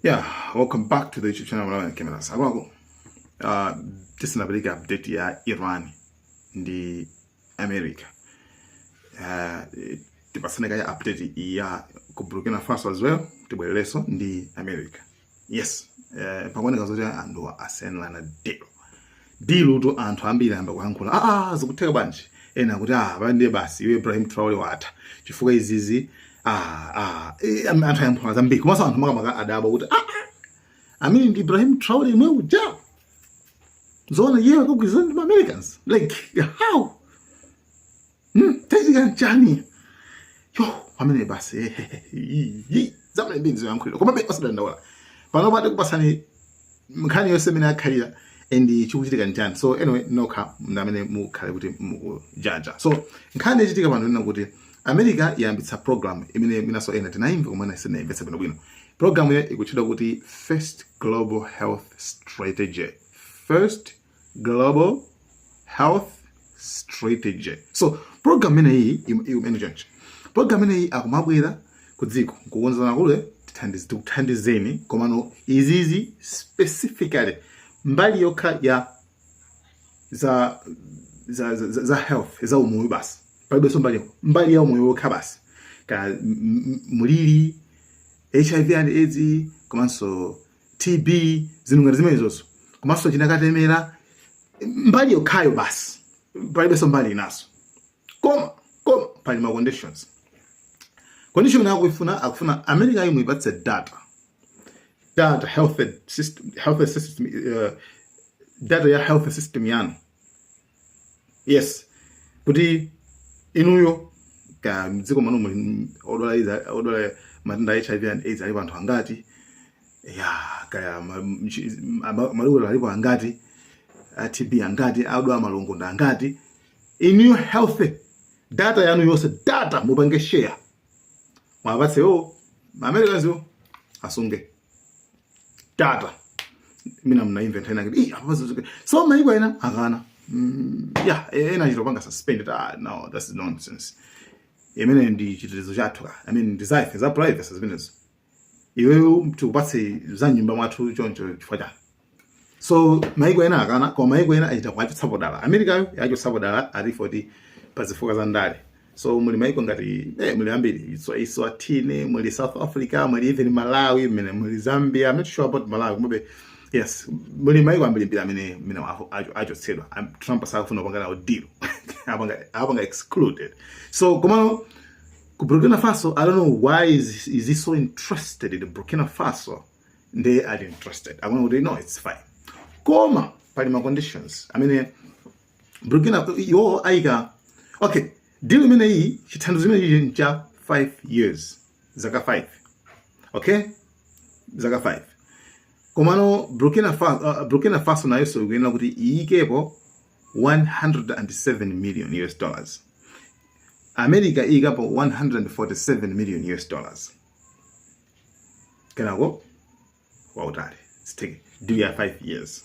Yeah, welcome back to the YouTube channel Malawi Cameras. Akwako, uh, tisinapereka update ya Iran ndi America. Uh, tipasane kaya update ya ku Burkina Faso as well, tibwerereso ndi America. Yes, uh, pakuoneka zoti anthu asenlana dero. Deal-to anthu ambiri ayamba kuyankhula aa ah, ah, zikutheka bwanji ena akuti aa ah, ndiye basi iwe Ibrahim Traore watha chifukwa izizi aa aa e, anthu ayankhula zambiri komanso anthu makamaka adabwa kuti aa amene ndi Ibrahim Traore yemwe uja zoona iye akagwirizana ndi ma Americans like how Hmm, chachitika nchani? Yo, amene basi. Eh, Zamene mbiri zayankhulira. Komabe osadandaula. Pano pa tikupatsani nkhani yonse imene yakhalira and chikuchitika nchani. So anyway, nokha ndamene mukhale kuti mukujaja. So nkhani yachitika pano ndi yakuti America yayambitsa program imene mwinanso ena tinaimva koma ena sanaimvetse bwino bwino. Programuyo ikutchedwa kuti First Global Health Strategy. First global health strategy so program imeneyi imene choncho program imeneyi akumabwera ku dziko nkukuuzani kuti tithandiz- tikuthandizeni komano izizi specifically mbali yokha ya za za, za, za- za health za umoyo basi palibenso mbali mbali ya umoyo yokha basi ka m- m- mliri hiv and aids komanso TB, zinthu ngati zimenezozo komanso china katemera mbali yokhayo basi, palibenso mbali inanso Koma koma pali ma conditions. Condition yake ikufuna akufuna America imeneyi muipatse data data health system health system uh, data ya health system yanu yes kuti inuyo ka mdziko mwanu muli odwala izi- odwala matenda a hiv and aids alipo anthu angati kaya ma- mchi- ama- malungo alipo angati a tb angati odwala malungo ndi angati inuyo health data yanu yonse data mupange share muwapatse iwo ma Americans iwo asunge data mwina munaimva nkhani yakuti ii apa pazozuke so maiko ena akana Mm, yeah e- ena achita kupanga suspended ah no that's nonsense chimenechi ndi chitetezo chathu ka i mean ndi zathu za privacy zimenezo iweyo tikupatse za mnyumba mwathu choncho chifukwa chani so maiko ena akana koma maiko ena achita kuwachotsapo dala amerikayo yawachotsapo dala ati for pa zifukwa za ndale so muli maiko ngati eh, muli ambiri so eswatini muli south africa muli even malawi mene muli zambia I'm not sure about malawi komabe yes muli maiko ambirimbiri amene mene iwo acho- achotsedwa Am- trump sakufuna kupanga nawo deal awapanga awapanga excluded so komano ku burkina faso i don't know why is, is he so interested in burkina faso nde ali interested akunena kuti no it's fine koma pali ma conditions amene burkina iwo ayika okay deal imeneyi chithandizo chimenechi ncha 5 years zaka 5 okay zaka 5 komano burkina faso, uh, burkina faso nayonso ikuyenera kuti iikepo 107 million US dollars. America iyikapo 147 million US dollars. Kenako wautali. It's take deal ya 5 years.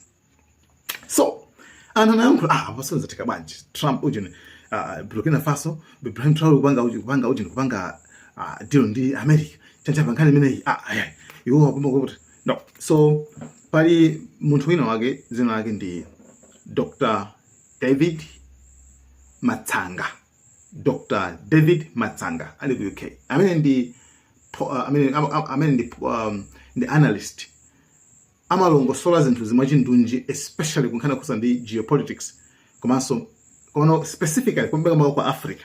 So, anthu akuyankhula ah zatheka bwanji. Trump uja uh, ah, Burkina Faso, Ibrahim Traore kupanga uju kupanga uju kupanga uh, deal ndi America. Chachitika pankhani imeneyi ah ayi. Iwo akumva kuti no so pali munthu wina wake dzina lake ndi dr david matsanga dr david matsanga ali ku uk amene ndi po- uh, amene, am- am- amene ndi, um, ndi analyst amalongosola zinthu mwachindunji especially kunkhani zokhudza ndi geopolitics komanso kono specifically kumpekamako kwa africa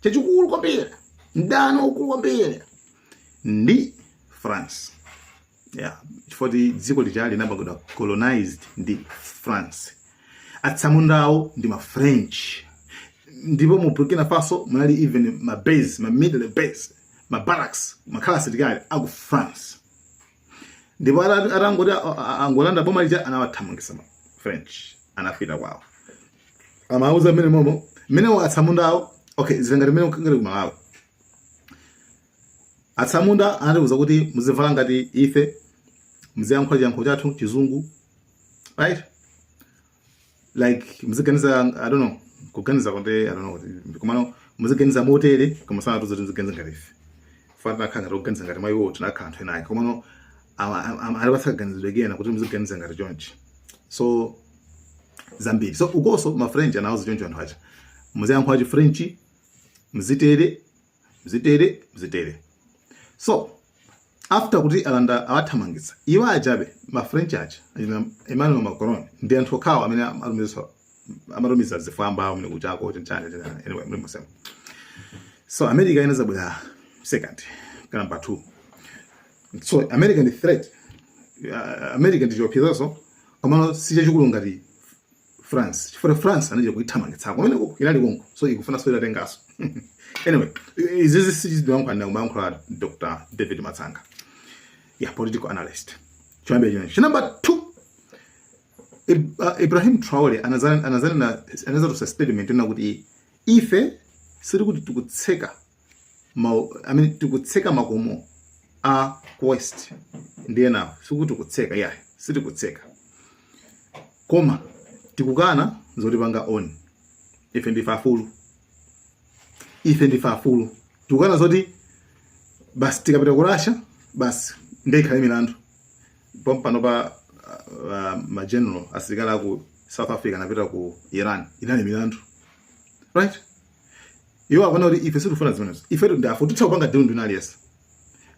chachikulu kwambiri mdani waukulu kwambiri ndi france yeah. chifukwa ti dziko lija linapangidwa colonized ndi france atsamundawo ndi mafrench ndipo mu burkina faso munali even ma base ma military base ma barracks mumakhala asilikali aku france ndipo ata- atangoti a- a- angolanda boma lija anawathamangitsa ma french anapita kwawo amauza mmene momo mmene atsamunda awo okay zili ngati mmene kungakhale ku malawi atsamunda anatiuza kuti muzivala ngati ife muziyankhula chiyankhulo chathu chizungu right like muziganiza i don't know kuganiza kuti i don't know kuti- komano muziganiza motere koma sanatiuza kuti muziganiza ngati ife fana tinakhala ngati kuganiza ngati mwa iwo tinakhala anthu enayi komano anatipatsa kaganizidwe kena kuti muziganiza ngati chonchi so zambiri so ukonso ma french anawuza choncho anthu aja muziyankhula chi french muzitere muzitere muzitere so after kuti alanda awathamangitsa iwo ajabe ma french aja achina emmanuel macron ndi anthu okhawo amene amatumiza amatumiza zigawenga amene kujako n'chani anyway muli musema so america inadzabwera second kaya number two so america ndi threat uh, america ndi chiopsezo komano si chachikulu ngati France chifukwa France anachita kuithamangitsako kumeneko inali konko so ikufunanso italitenganso anyway izizi si zimene ankayankhula Dr David Matsanga ya political analyst choyambira chino chi number two uh, Ibrahim Traore anadzanena anadzatulutsa statement ina kuti ife sili kuti tikutseka mau amene tikutseka makomo a ku west ndiye inayo sikuti tikutseka yayi sitikutseka koma tikukana zotipanga own ife ndife afulu ife ndife afulu tikukana zoti basi tikapita ku Russia basi nde ikhale milandu pompanopa uh, ma general asilikali aku south africa anapita ku iran inali milandu right iwo akuona kuti ife sitifuna zimenezo ife ndife afulu titha kupanga deal ndi wina aliyense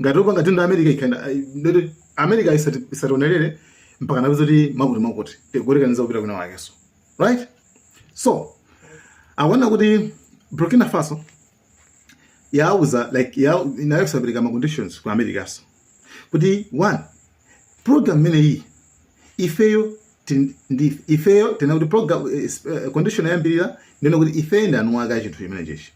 ngati tipanga deal ndi america ikhale ndi yoti america isati- isatilondelere mpaka nakuti zoti makuti makuti tikuyerekeza kupita kwina wakenso right so akuona kuti burkina faso yauza like ya- inayo sapereka ma conditions ku americanso kuti one program imeneyi ifeyo tin- ndi- ifeyo tinena kuti program eh, s- eh, condition yoyambirira ndiye kuti ife ndi eni ake a chinthu chimenechichi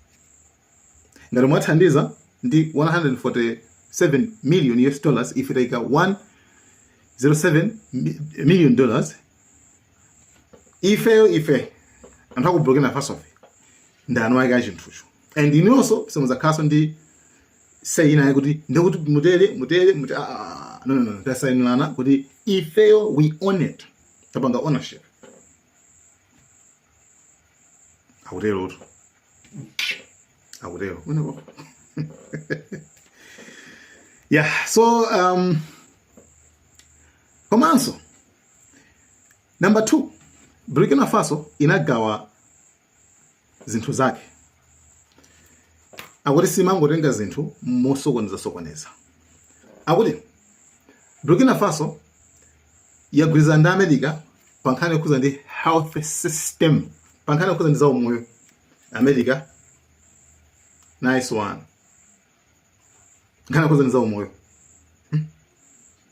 ngati mwathandiza ndi 147 million us dollars ife taika 107 mi- million dollars ifeyo ife anthu aku burkina faso ife ndi eni ake a chinthucho and inuyonso simuzakhalanso ndi say ina yoti ndikuti mutere mutere mutere ah, ah, ah, no no no tasayinana kuti ifeyo we own it tapanga ownership akutero tu akutero uyeyo yeah so um komanso number 2 Burkina Faso inagawa zinthu zake akuti simangotenga zinthu mosokoneza sokoneza akuti Burkina Faso yagwirizana ndi America pa nkhani yokhuza ndi health system pa nkhani yokhuza ndi zaumoyo America nice one nkhani yokhuza ndi za umoyo hmm?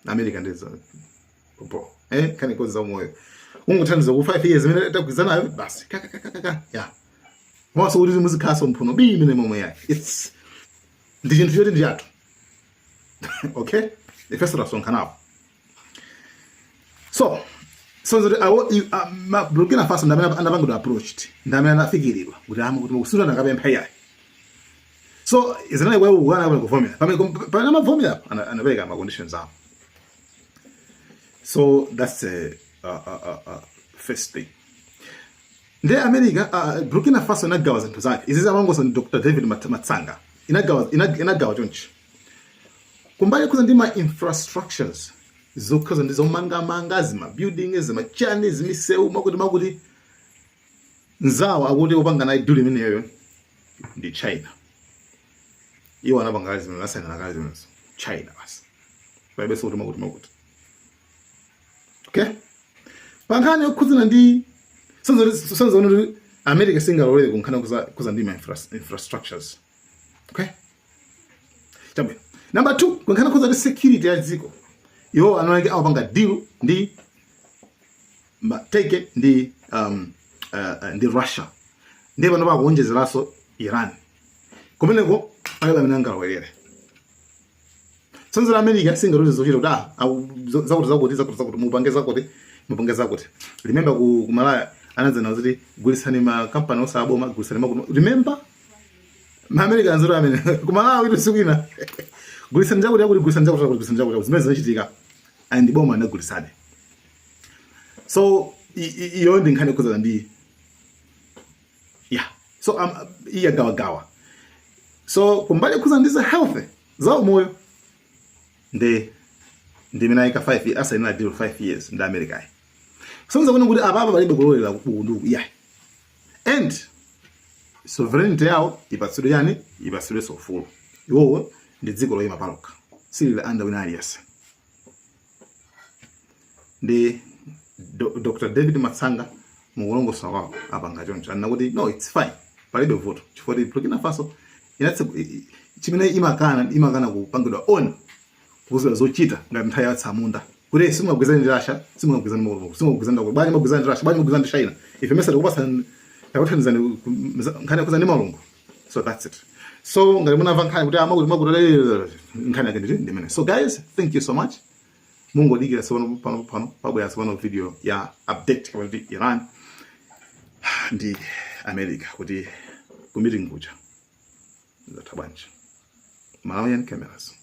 america ndi za popo eh nkhani yokhuza za umoyo mungothandiza ku 5 years imene tagwirizanayo basi kaka kaka kaka osamwanso kuti muzikhalanso mphuno bii mmenemo eyayi it's ndi chinthu choti ndi chathu okay ifeso tasonkhanapo so so zoti awo i- a- ma- burkina faso ndamene anapangidwa approached ndamene anafikiridwa kuti amu kuti ukusowa sanakapemphe yayi so zinali kwawo kukana kapena kuvomera pamene pamene amavomera ana- anapereka ma conditions awo so that's a, a, a, a, a first thing ndi america uh, burkina faso inagawa zinthu zake izi zamangidwanso ndi dr david Mat- matsanga inagawa ina- inagawa chonchi Kumbali yokhuza ndi ma infrastructures zokhuza ndi zomangamanga zima building zima chani zimisewu makuti makuti nzawo akuti opanga naye deal imeneyo ndi China iwo anapanga kale zimene asainana kale zimene China basi palibe sikuti makuti makuti okay pankhani yokhudzana ndi sizoona kuti America singalolere kunkhani yokhudza ndi ma infrastructures okay chabwino namba 2 kunkhani yokhudza ndi security ya dziko iwo anonake amapanga deal ndi ma- take it ndi um, uh, uh, ndi russia ndi pano pakuonjezeranso iran kumeneko palibe amene angalowerere tsanzira america singawauze zochita kuti ah, aku- zo- zakuti zakuti zakuti zakuti mupange zakuti mupange zakuti remember ku ku malaya anadzana kuti gulitsani makampani osaboma gulitsani makuno remember America nzira amene. Kumala witu sikwina. Gulisani chako chako gulisani chako chako gulisani chako chako zimene zinachitika and boma anagulisani. So iyo ndi nkhani kuzana ndi yeah. So um, iya gawa gawa. So kumbali kuzana ndi za health za umoyo ndi ndi mina ika 5 asa ina deal 5 years ndi America. So nzakuona kuti ababa balibe kulolera kubuku nduku yeah. and sovereignty yawo ipatsidwe chani ipatsidwenso ufulu iwowo ndi dziko loyima palokha silili under wina aliyense ndi Do- dr david matsanga mukulongosola kwawo apanga choncho anena kuti no its fine palibe vuto chifukwa kuti burkina faso inatsegu- i- i- chimene imakana imakana kupangidwa on kuuzidwa zochita ngati nthawi ya tsamunda kuti simungagwizane ndi Russia simungagwizane Morocco simungagwizane ndakwa bwanji magwizane ndi Russia bwanji magwizane ndi China ife mesa tikupatsani takuthandizani ku- mza- nkhani yokhudza ndi malungu so that's it so ngati munamva nkhani kuti amakuti makuti nkhani yake ndi imeneyi so guys thank you so much mungodikira sipano pano pano pabwera sipano video ya update ya nkhani ya Iran ndi America kuti ku meeting kuja zatha bwanji malawian cameras